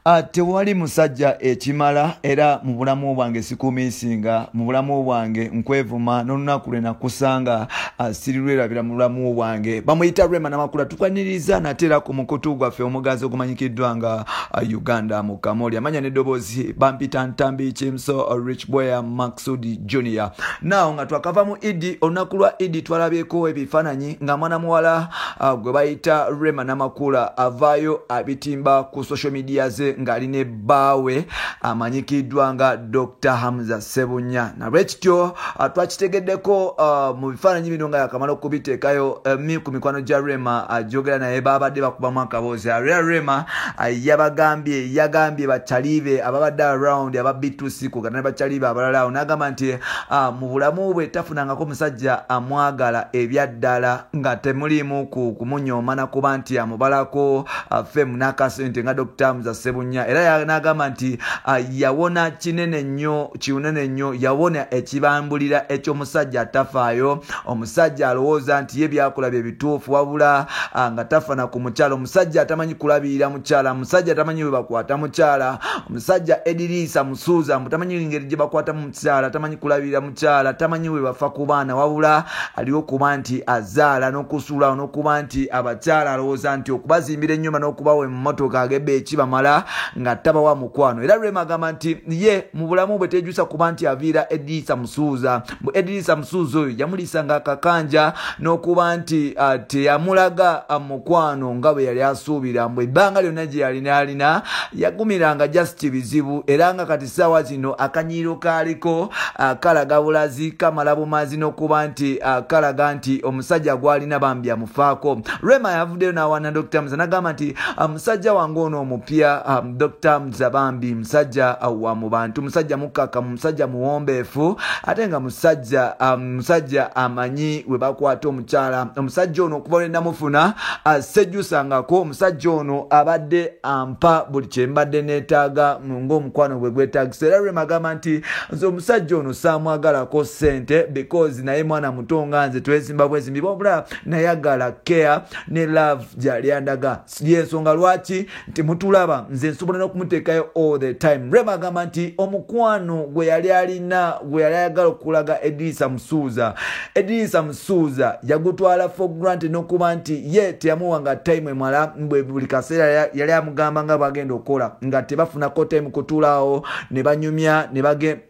Ah, tewali musajja ekimala era mu bulamu bwange sikumiisinga mu bulamu bwange nkwevuma n'olunaku lwe nakusanga ah, sirirwerabira mu bulamu bwange bamuyita rema namakula tukwaniriza nate era ku mukutu gwaffe omuganzi ogumanyikiddwa nga ah, uganda mukamoli amanya n'eddoboozi bampita ntambi kimso rich bweya maksudi junior naw nga twakava mu idi olunaku lwa idi twalabyeko ebifaananyi nga mwana muwala uh, gwe bayita rema namakula avaayo abitimba ku social media ze ng'ali ne bbaawe amanyikiddwa nga dr hamza sebunya nalwekityo uh, twakitegeddeko uh, mu bifaananyi bino nga yakamala okubiteekayo uh, mi ku mikwano gya rema ajogera uh, naye baabadde bakubamu akaboozi arera rema uh, yabagambye yagambye bataliibe ababadde around ababitu sikuga ne bakyalibe abalala awo n'agamba nti ah, mu bulamu bwe tafunangako musajja amwagala ebyaddala nga temuliimu ku kumunyooma nakuba nti amubalako ah, femu n'akasente nga dokita muza sebunya era n'agamba nti ah, yawona kinene nnyo kinene nnyo yawona ekibambulira eky'omusajja atafaayo omusajja alowooza nti ye byakola bye bituufu wabula nga tafana ku mukyalo omusajja atamanyi kulabirira mukyala musajja tamanyi bwebakwata mukyala omusajja ediriisa musuuza mbu tamanyi ngeri gye bakwata mu mukyala tamanyi kulabirira mukyala tamanyi bwebafa ku baana wabula aliwo okuba nti azaala n'okusuulawo n'okuba nti abakyala alowooza nti okubazimbira ennyumba n'okubawa emmotoka agebe ekibamala nga tabawa mukwano era lwemagamba nti ye mu bulamu bwe tejusa kuba nti aviira ediriisa musuuza mbu edirisa musuuzi oyo yamulisa nga akakanja n'okuba nti ah, teyamulaga ah, mukwano nga bwe yali asuubira mbu ebbanga lyonna gye yalina alina yagumiranga just bizibu era nga kati saawa zino akanyiiro kaaliko ah, kalaga bulazi kamala bumazi n'okuba nti kalaga nti omusajja gwalina bambi amufaako rema yavuddeyo n'awana dr mza nagamba nti musajja wange ono omupya dr za bambi musajja wa mu bantu musajja mukkakkamu musajja muwombeefu ate nga musajja um, musajja amanyi we bakwata omukyala omusajja ono okuva lwenamufuna asejjusangako uh, omusajja ono abadde ampa buli kyembadde neetaaga ngaomukwano bwe gwetagisa era lwe magamba nti nze omusajja ono saamwagalako ssente because naye mwana muto nga nze twezimba bwezimbi wabula nayagala care ne love gyalyandagasa yensonga lwaki nti mutulaba nze nsobola n'okumuteekayo all the time rema agamba nti omukwano gwe yali alina gwe yali ayagala okulaga edirisa musuuza edirisa musuuza yagutwala for grant n'okuba nti ye teyamuwa nga time emala bwe buli kaseera yali amugamba nga bagenda okukola nga tebafunako time kutuulaawo ne banyumya ne bagenda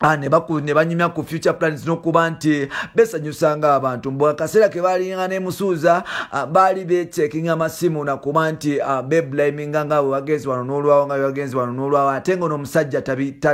Ah, ne banyumya ku future plans nokuba nti besanyusanga abantu mbu akaseera ke balinga nemusuuza ah, baali bechekinga amasimu nakuba nti ah, beblaminga nga wewagenzi wano nolwawo nga wewagenzi wano nolwawo ate nga onomusajja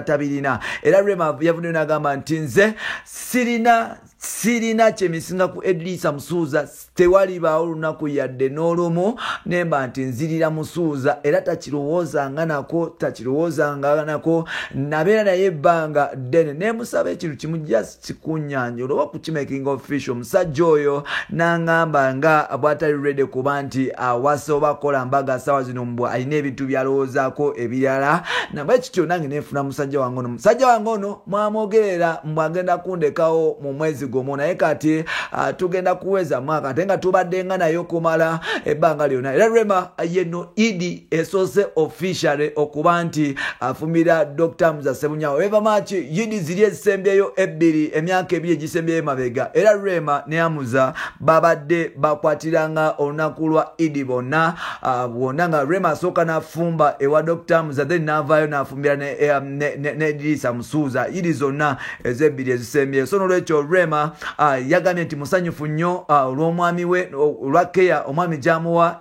tabirina era rema yavuddeyo nagamba nti nze sirina sirina kyemisinga ku edrisa musuuza tewalibaawo lunaku yadde n'olumu nemba nti nzirira musuuza era takirowoozanga nako takirowoozanga nako nabeera naye ebbanga ddene nemusaba ekintu kimu just kikunyanja olwoba okukimaking official omusajja oyo nangamba nga bwatali rede kuba nti awasa oba akola mbaga sawa zino mbw alina ebintu byalowoozaako ebirala nabwe kityo nange nenfuna musajja wange ono musajja wange ono mwamwogerera mbu agenda kundekawo mu mwezi gumu naye kati uh, tugenda kuweza mwaka ate nga tubadde nga naye okumala ebbanga lyonna era rema yeno idi esoose officially okuba nti afumira dr muzasemunyawo eva maki idi ziri ezisembyeyo ebbiri emyaka ebiri egisembyeyo mabega era rema ne amuza babadde bakwatiranga olunaku lwa idi bonna uh, bwonna nga rema asooka nafumba ewa dr muza then navayo kumbira ne, eh, ne, ne, ne dirisa musuuza iri zonna ezebbiri ezisembyeyo so nolwekyo rema uh, yagambye nti musanyufu nnyo uh, olw'omwami we olwa keya omwami gyamuwa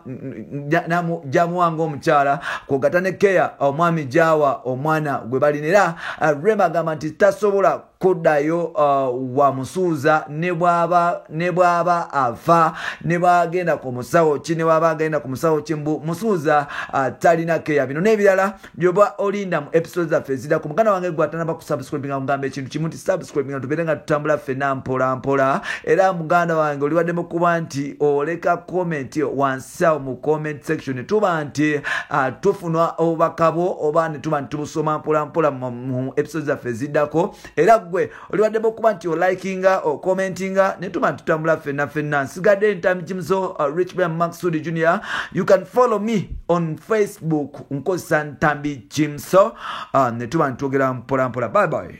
gyamuwa ngaomukyala kwogata ne keya omwami gyawa omwana gwe balina era uh, rema agamba nti tasobola kuddayo uh, wamusuuza ne bw'aba afa ne bwagenda ku musawo ki ne bw'aba agenda ku musawo ki mbu musuuza uh, talina keya bino n'ebirala byoba olinda mu episode zaffe ezidako muganda wange gwe atanaba ku subscribe nga mugamba ekintu kimu nti subscribe nga tubeere nga tutambula ffena mpolampola era muganda wange olibaddemu kuba nti oleka komenti wansi so mu comment section tuba nti uh, tufuna obubaka bwo oba ne tuba nti tubusoma mpolampola mu episode zaffe eziddako era gwe oliwaddemu okuba nti olikinga okommentinga ne tuba nti tutambula fenna fenna nsigadde ntamijimzo uh, richman maxud junior you can follow me on facebook nkozesa ntambi jimso uh, ne tuba nti twogera mpolampola bye bye